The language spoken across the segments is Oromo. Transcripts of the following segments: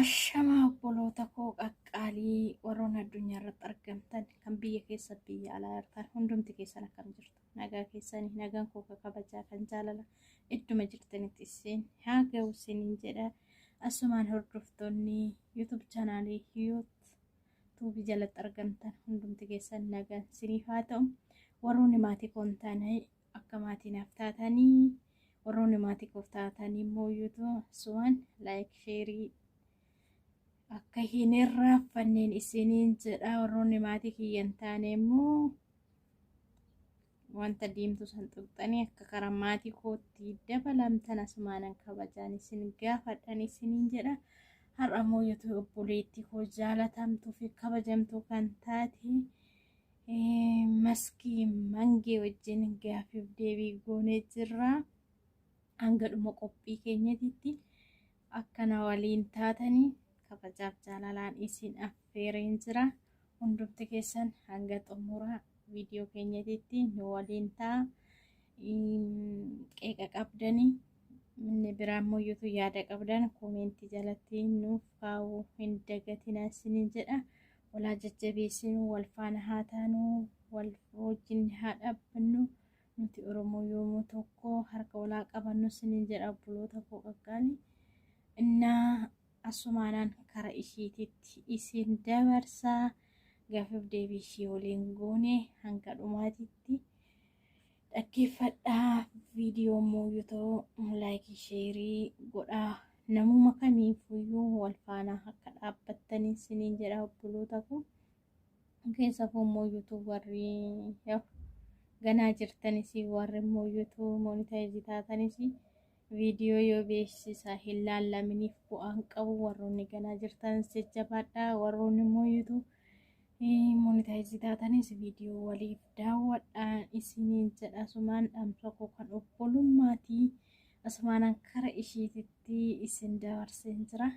Ashamaa obboloota koo qaqqaalii warroon addunyaa irratti argamtan kan biyya keessa biyya alaa jirtan hundumti keessan akkam jirtu nagaa keessanii nagaan koo kabajaa kan jaalala idduma jirtanitti isin haa ga'u isiniin jedha asumaan hordoftoonni yuutuub chaanaalii yuut tuubi jalatti argamtan hundumti keessan nagaan siniif haa ta'u warroonni maatii koo hin taane akka maatii naaf taatanii warroonni maatii koof taatanii immoo yuutu suwaan laayik sheerii akka hin irraanfanneen isiniin jedha warroonni maatii kiyya hin taane immoo Wanta diimtuu san tuqxanii akka karaa maatii kootti dabalamtan asumaanan kabajaan isin gaafadhan isiniin jedha. Har'a immoo youtube obboleettii koo jaalatamtuu fi kabajamtuu kan taate eh, maskii mangee wajjin gaafiif deebii goonee jirra. Hanga dhuma qophii keenyatitti akkana waliin taatanii kabajaaf jaalalaan isin affeereen jira. Hundumti keessan hanga xumura viidiyoo keenyatitti nu waliin ta'a. Qeeqa qabdani inni biraa immoo yuutu yaada qabdan koomeentii jalatti nuuf kaa'uu hin dagatinaa isiniin jedha. Walaa jajjabeessinu wal faana haa taanu wal wajjin haa dhaabbannu nuti Oromoo yoomuu tokko harka walaa qabannu isiniin jedha obboloota koo qaqqaali. Innaa Asumaanan kara ishiititti isin dabarsa. Gaaffiif deebii ishii waliin goone hanga dhumaatitti dhaggeeffadhaa. Viidiyoo immoo yoo ta'u laayikii sheerii godhaa. Namuma kamiifuyyuu wal faana akka dhaabbattan isiniin jedha obboloota koo. Keessafuu immoo yuutuub warri ganaa jirtanis warri immoo yuutuub moonitaayizii taatanis Viidiyoo yoo beeksisa hin laallaminiif bu'aan qabu warroonni ganaa jirtan jajjabaadhaa warroonni immoo yuutuu monitaayizi taatanis viidiyoo waliif daawwadhaan isiniin jedha asumaan dhaamsa koo kan obbolummaatii asumaanan kara ishiititti isin dabarseen jira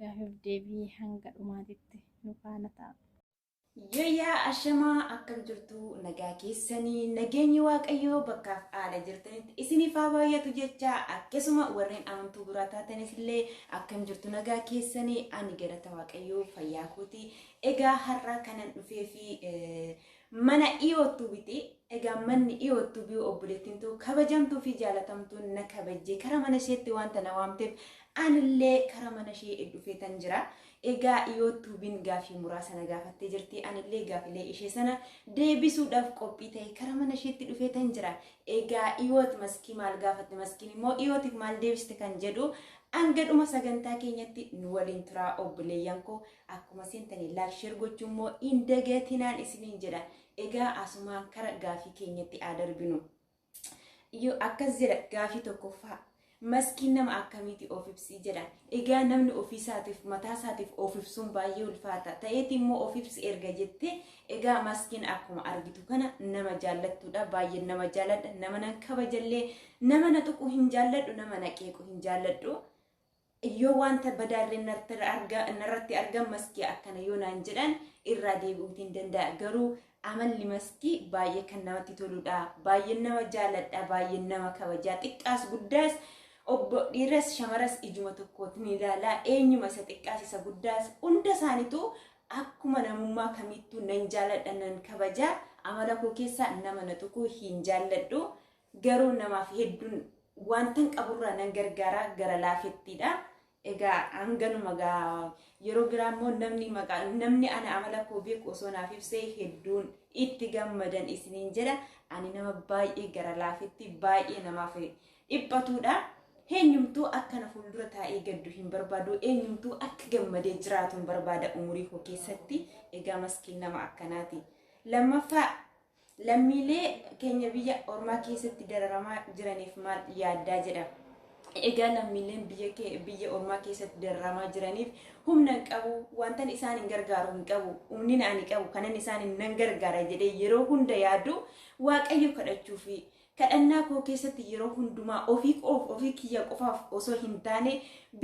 gaafiif deebii hanga dhumaatitti nu faana ta'a. Yayyaa ashamaa akkam jirtu nagaa keessanii nageenyi waaqayyoo bakkaaf haala jirtanitti isiniif haa baay'atu jecha akkasuma warreen amantuu biraa taatanis illee akkam jirtu nagaa keessanii ani galata waaqayyoo fayyaa kooti egaa har'aa kanan dhufee fi mana dhiyoottuu biti egaa manni dhiyoottuu biyya obboleettiin too kabajamtuu fi jaalatamtuun na kabajjee karaa mana isheetti wanta na waamteef anillee karaa mana ishee dhufeetan jira. Egaa Iyootuubiin gaafii muraasa na gaafattee jirti. Anillee gaafilee ishee sana deebisuudhaaf qophii ta'e kara mana isheetti dhufee tan jira. Egaa Iyoot maskii maal gaafatte maskiin immoo Iyootiif maal deebiste kan jedhu hanga dhuma sagantaa keenyatti nu waliin turaa obboleeyyan koo akkuma seentanii laak sheer gochuu immoo hin dagatinaan isiniin jedha. Egaa asumaan kara gaafii keenyatti haa darbinu. Iyyuu akkas jedha gaafii tokkoffaa. Maskiin nama akkamiiti of ibsii jedhan. Egaa namni ofiisaatiif mataasaatiif of ibsuun baay'ee ulfaata. Ta'eeti immoo of ibsi erga jettee egaa maskiin akkuma argitu kana nama jaallattuudha. Baay'ee nama jaalladha. Nama nan kabajallee nama na tuqu hin jaalladhu nama na qeequ hin jaalladhu. Yoo wanta badaalleen narratti argan maskii akkana yoo naan jedhan irraa deebi'uutiin danda'a garuu amalli maskii baay'ee kan namatti toludha baay'een nama jaaladha baay'een nama kabajaa xiqqaas guddaas obbo dhiiras shamaras ijuma tokkootiin ilaalaa eenyuma isa xiqqaas isa guddaas hunda isaaniitu akkuma namummaa kamiittuu nan jaaladha nan kabajaa amala koo keessaa nama na tuquu hin jaalladhu Garuu namaaf hedduun wantan qaburraa nan gargaara gara laafettiidha. Egaa hanganuma gaa yeroo biraa immoo namni maqaa namni ana amala koo beeku osoo naaf ibsee hedduun itti gammadan isiniin jedha. Ani nama baay'ee gara laafetti baay'ee namaaf dhiphatuudha. Eenyumtuu akka na fuuldura taa'ee gaddu hin barbaadu. Eenyumtuu akka gammadee jiraatu hin barbaada umurii koo keessatti. Egaa maskiin nama akkanaati. Lammaffaa Lammiilee keenya biyya ormaa keessatti dararamaa jiraniif maal yaaddaa jedha. Egaa lammiileen biyya kee- biyya ormaa keessatti dararamaa jiraniif humna hin qabu, wantan isaan hin gargaaru hin qabu, humnina ani qabu kanan isaan hin nan gargaara jedhee yeroo hunda yaadu waaqayyo kadhachuu fi Kadhannaa koo keessatti yeroo hundumaa ofii koof, ofii kiyya qofaaf osoo hin taane,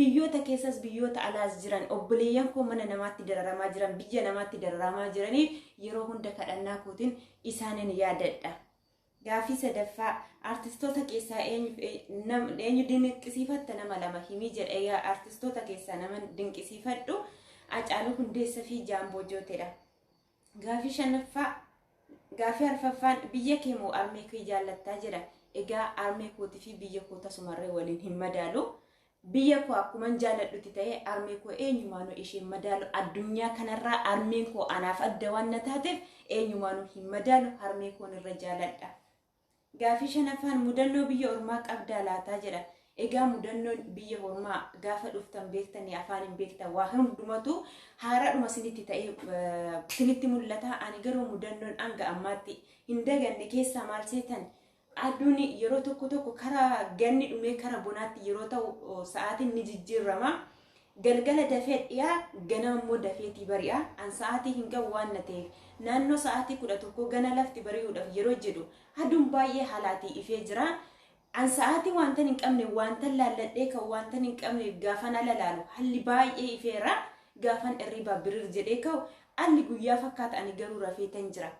biyyoota keessas biyyoota alaas jiran, obboleeyyan koo mana namaatti dararamaa jiran, biyya namaatti dararamaa jiraniif yeroo hunda kadhannaa kootiin isaanin yaadadha. Gaaffii sadaffaa artistoota keessaa eenyuuf ee- nam- eenyu dinqisiifatta nama lama himii jedha egaa artistoota keessaa nama dinqisiifadhu Hacaaluu Hundeessaa fi Jaamboo Jooteedha. Gaafii shanaffaa gaafii arfaffaan biyya kee moo armee kee jaallattaa jedha. Egaa armee kootii fi biyya koo tasumarree waliin hin madaalu. Biyya koo akkuman jaalladhutti ta'ee armee koo eenyumaanuu isheen madaalu addunyaa kanarraa armeen koo anaaf adda waan na taateef eenyumaanuu hin madaalu harmee koon irra jaalladha. Gaaffii shanaffaan mudannoo biyya ormaa qabdaa laataa jedha. Egaa mudannoon biyya ormaa gaafa dhuftan beektanii afaan hin beektan waa hundumatu haaraadhuma sinitti ta'ee sinitti mul'ata. Ani garuu mudannoon hanga ammaatti hin daganne keessaa maal seetan aduun yeroo tokko tokko karaa ganni dhumee karaa bonaatti yeroo ta'u sa'aatiin ni jijjiirrama. Galgala dafee dhi'a, ganama immoo dafeetii bari'a, an sa'aatii hin ga'u waan na ta'eef, naannoo sa'aatii 11 gana lafti bari'uudhaaf yeroo jedhu aduun baay'ee halaatii ifee jira. An sa'aatii waantan hin qabne waantan laalladhee ka'u waantan hin qabneef gaafan ala laalu halli baay'ee ifeera. Gaafan irriibaa birir jedhee ka'u alli guyyaa fakkaata ani garuu rafeetan jira.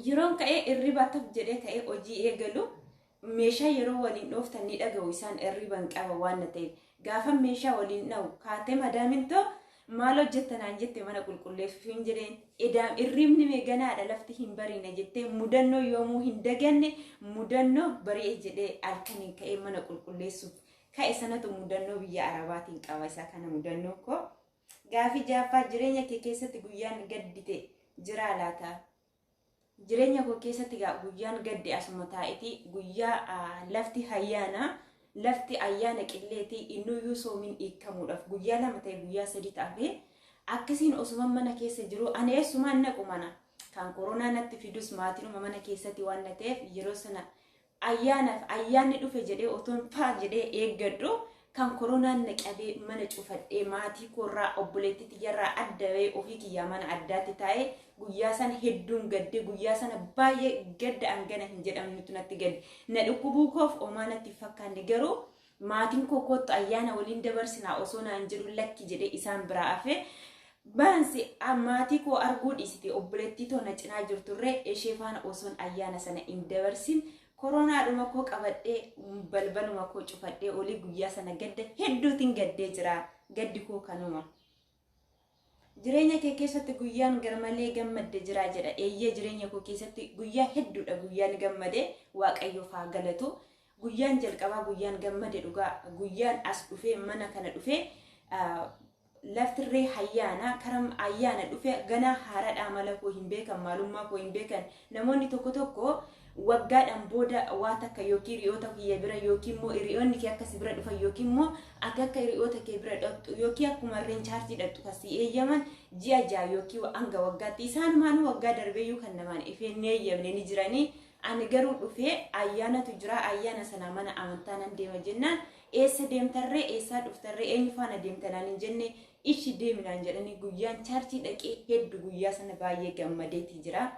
Yeroon ka'ee irribaa taf jedhee ka'ee hojii eegalu meeshaa yeroo waliin dhooftan ni dhaga'u isaan irriban qaba waan na ta'eef gaafa meeshaa waliin dha'u kaatee madaamin too maal hojjetta naan jette mana qulqulleessuuf hin jedheen edaam irribni meeganaadha lafti hin bariine jettee mudannoo yoomuu hin daganne mudannoo bari'e jedhee halkaniin ka'ee mana qulqulleessuuf ka'e sanatu mudannoo biyya arabaatiin qaba isaa kana mudannoo koo Gaafii 6ffaa Jireenya kee keessatti guyyaan gaddite jiraa laata? Jireenya koo keessatti gaa guyyaan gadde asuma taa'eeti guyyaa ah, lafti hayyaana lafti ayyaana qilleeti innuyyuu soomiin hiikkamuudhaaf guyyaa lama ta'e guyyaa sadii ta'afe akkasiin osuma mana keessa jiru ani eessumaan naqu mana kan koronaa natti fidus maatiinuma mana keessatti waan na ta'eef yeroo sana Ayyaanaaf ayyaanni dhufe jedhee otoon faa jedhee eeggadhu kan koronaan na qabee mana cufadhee maatii koorraa obboleettii tiyyarraa adda bahee ofii kiyyaa mana addaatti taa'ee guyyaa sana hedduun gaddee guyyaa sana baay'ee gadda hangana hin jedhamnetu natti gadde na dhukkubuu koof omaa natti hin fakkaanne garuu Maatiin koo koottu ayyaana waliin dabarsinaa osoo naan jedhu lakki jedhee isaan biraa hafe. Baansi maatii koo arguu dhiisite obboleettii too na cinaa jirturree ishee faana osoon ayyaana sana hin dabarsin koroonaadhuma koo qabadhee balbaluma koo cufadhee olii guyyaa sana gadda hedduutiin gaddee jira gaddi koo kanuma. Jireenya kee keessatti guyyaan garmalee gammadde jiraa jedha. Eeyyee jireenya koo keessatti guyyaa hedduudha guyyaan gammade waaqayyoof haa galatu. Guyyaan jalqabaa guyyaan gammade dhugaa guyyaan as dhufee mana kana dhufee ah, laftirree hayyaana karam ayyaana dhufe ganaa haaradha amala koo hin beekan maalummaa koo hin beekan namoonni tokko tokko Waggaadhaan booda waa takka yookiin hiriyoota kiyya bira yookiin immoo hiriyoonni kee akka si bira dhufan yookiin immoo ati akka hiriyoota kee bira dhaqxu yookiin akkuma harreen chaarjii dhaqxu kan si eeyyaman ji'a ja'a yookiin hanga waggaatti isaanumaanuu waggaa darbeeyyuu kan namaan ifee hin eeyyamne ni jiranii ani garuu dhufee ayyaanatu jira ayyaana sana mana amantaa nan deema jennaan eessa deemtarree eessaa dhuftarree eenyu faana deemtanaan hin jenne ishi deeminaan jedhanii guyyaan chaarjii dhaqee heddu guyyaa sana baay'ee gammadeeti jira.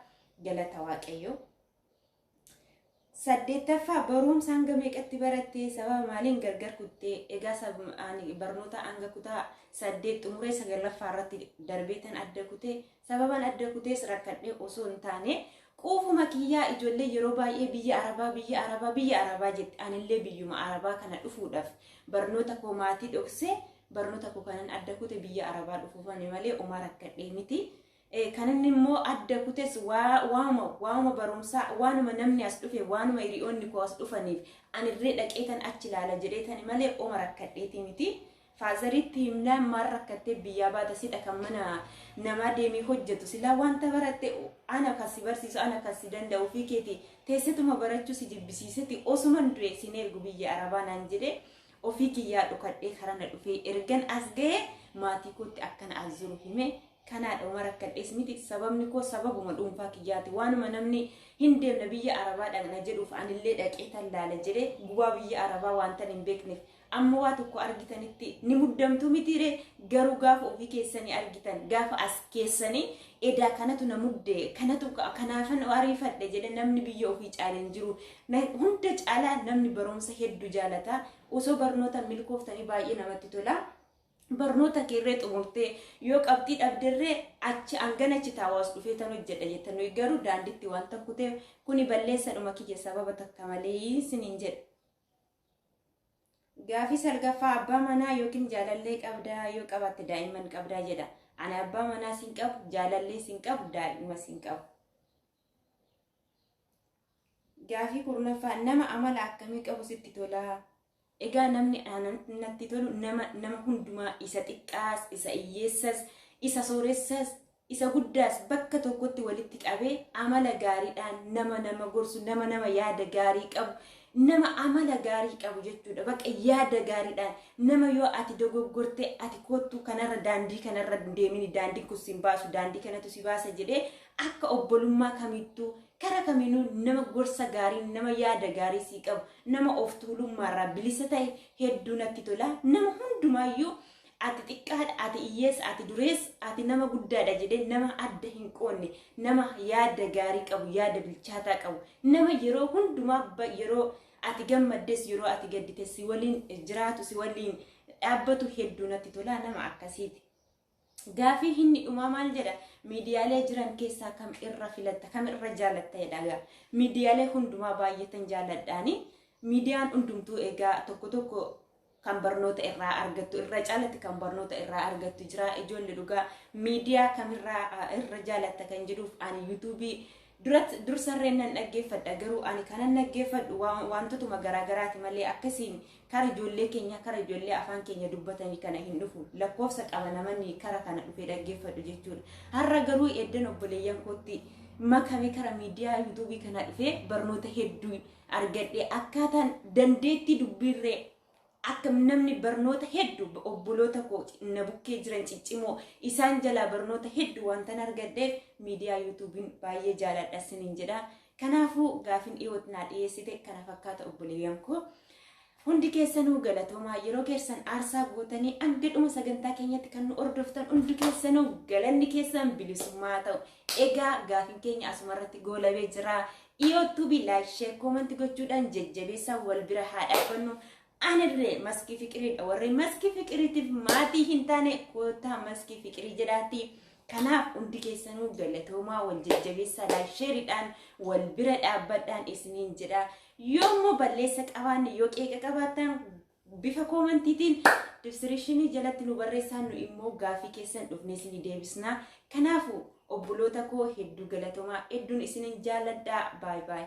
Galata Waaqayyoo. Saddeettaffaa barumsa hanga meeqatti barattee sababa maaliin gargar kuttee egaa sab- ani barnoota hanga kutaa saddeet xumuree sagalaffaa irratti darbeetan adda kutee sababan adda kutees rakkadhee osoo hin taane quufuma kiyyaa ijoollee yeroo baay'ee biyya arabaa biyya arabaa biyya arabaa jette anillee biyyuma arabaa kana dhufuudhaaf barnoota koo maatii dhoksee barnoota koo kanan adda kute biyya arabaa dhufuufani malee omaa rakkadhee miti. Kan inni immoo adda kutes waanuma waanuma barumsaa waanuma namni as dhufe waanuma hiriyoonni koo as dhufaniif anillee dhaqee tan achi ilaala jedhee tani malee oma rakkadheeti miti. Faazariitti himnaan maal rakkattee biyyaa baata sidha kan mana namaa deemee hojjetu silaa wanta baratte ana kan si barsiisu ana kan si danda'u fi keeti teessituma barachuu si jibbisiiseti osuman du'e sin ergu biyya arabaa naan jedhee ofii kiyyaa dhokadhee karana dhufee ergan as ga'ee maatii kootti akkana as jiru hime kanaadha uma rakkadhees miti sababni koo sababuma dhuunfaa kiyyaati waanuma namni hin deemne biyya arabaa dhaqna jedhuuf anillee dhaqee tan laala jedhee gubaa biyya arabaa waantan hin beekneef amma waa tokko argitanitti ni muddamtu mitiiree garuu gaafa ofii keessanii argitan gaafa as keessanii edaa kanatu na mudde kanatu kanaafan ariifadhe jedhe namni biyya ofii caale hin jiru hunda caalaa namni barumsa hedduu jaalataa osoo barnoota milkooftanii baay'ee namatti tolaa. barnoota keerree xumurtee yoo qabxii dhabderree achi hangana achi taawaas dhufee tan hojjedha jetta nuyi garuu daanditti waan takku ta'e kuni balleessadhuma kiyya sababa takka malee isiniin jedha. Gaafii salgaffaa abbaa manaa yookiin jaalallee qabdaa yoo qabaatte daa'imman qabdaa jedha. Ani abbaa manaa siin qabu jaalallee siin qabu daa'imma siin qabu. Gaafii kurnaffaa nama amala akkamii qabu sitti tolaa? Egaa namni natti tolu nama nama hundumaa isa xiqqaas, isa hiyyeessas, isa sooressas, isa guddaas bakka tokkotti walitti qabee amala gaariidhaan nama nama gorsu, nama nama yaada gaarii qabu, nama amala gaarii qabu jechuudha. Bakka yaada gaariidhaan nama yoo ati dogoggortee ati koottuu kanarra daandii kanarra deemini daandii kun sin baasu daandii kanatu si baasa jedhee Akka obbolummaa kamittuu kara kaminuu nama gorsa gaarii, nama yaada gaarii sii qabu, nama of tuulummaarraa bilisa ta'e hedduu natti tola. Nama hundumaayyuu ati xiqqaadha, ati hiyyeessa, ati dureessa, ati nama guddaadha jedhee nama adda hin qoonne, nama yaada gaarii qabu, yaada bilchaataa qabu, nama yeroo hundumaa ba- yeroo ati gammaddes yeroo ati gaddites si waliin jiraatu, si waliin dhaabbatu hedduu natti tola nama akkasiiti. Gaafii hinni dhumaa maal jedha? Miidiyaalee jiran keessaa kam irra filatta? Kam irra jaalatta jedha egaa. Miidiyaalee hundumaa baay'eetan jaaladhaani. Miidiyaan hundumtuu egaa tokko tokko kan barnoota irraa argattu irra caalatti kan barnoota irraa argattu jira. Ijoollee dhugaa miidiyaa kamirraa irra jaalatta kan jedhuuf ani yuutuubii Durat dursarreen nan dhaggeeffadha garuu ani kanan dhaggeeffadhu waan- waantotuma garaagaraati malee akkasiin kara ijoollee keenya kara ijoollee afaan keenya dubbatanii kana hin dhufu lakkoofsa qaba namni kara kana dhufee dhaggeeffadhu jechuudha har'a garuu eddan obboleeyyan kootti makame kara miidiyaa yuutuubii kana dhufee barnoota hedduu argadhe akkaataan dandeettii dubbiirree akka namni barnoota heddu obboloota koo na bukkee jiran ciccimoo isaan jalaa barnoota heddu wantan argadheef miidiyaa yuutuubiin baay'ee jaaladha sinin jedha kanaafuu gaafin dhiyoot naa dhiyeessite kana fakkaata obboleeyyan koo hundi keessanuu galatoomaa yeroo keessan aarsaa gootanii hanga dhuma sagantaa keenyatti kan nu hordoftan hundi keessanuu galanni keessan bilisummaa ta'u egaa gaafin keenya asumarratti goolabee jira Iyoo tubi like share comment gochuudhaan jajjabeessaa wal bira haa dhaabbannu. Anillee maskii fiqiriidha warri maskii fiqiriitiif maatii hin taane koottaa maskii fiqirii jedhaati. Kanaaf hundi keessanuu galatoomaa wal jajjabeessaa like shareidhaan wal bira dhaabbadhaan isiniin jedha. Yoo immoo balleessa qabaanne yoo qeeqa qabaattan Bifa koomantiitiin dibsiriishinii jalatti nu barreessaa nu immoo gaafii keessan dhufnee isinii deebisnaa. Kanaafu obboloota koo hedduu galatomaa hedduun isinin jaalladhaa baay baay.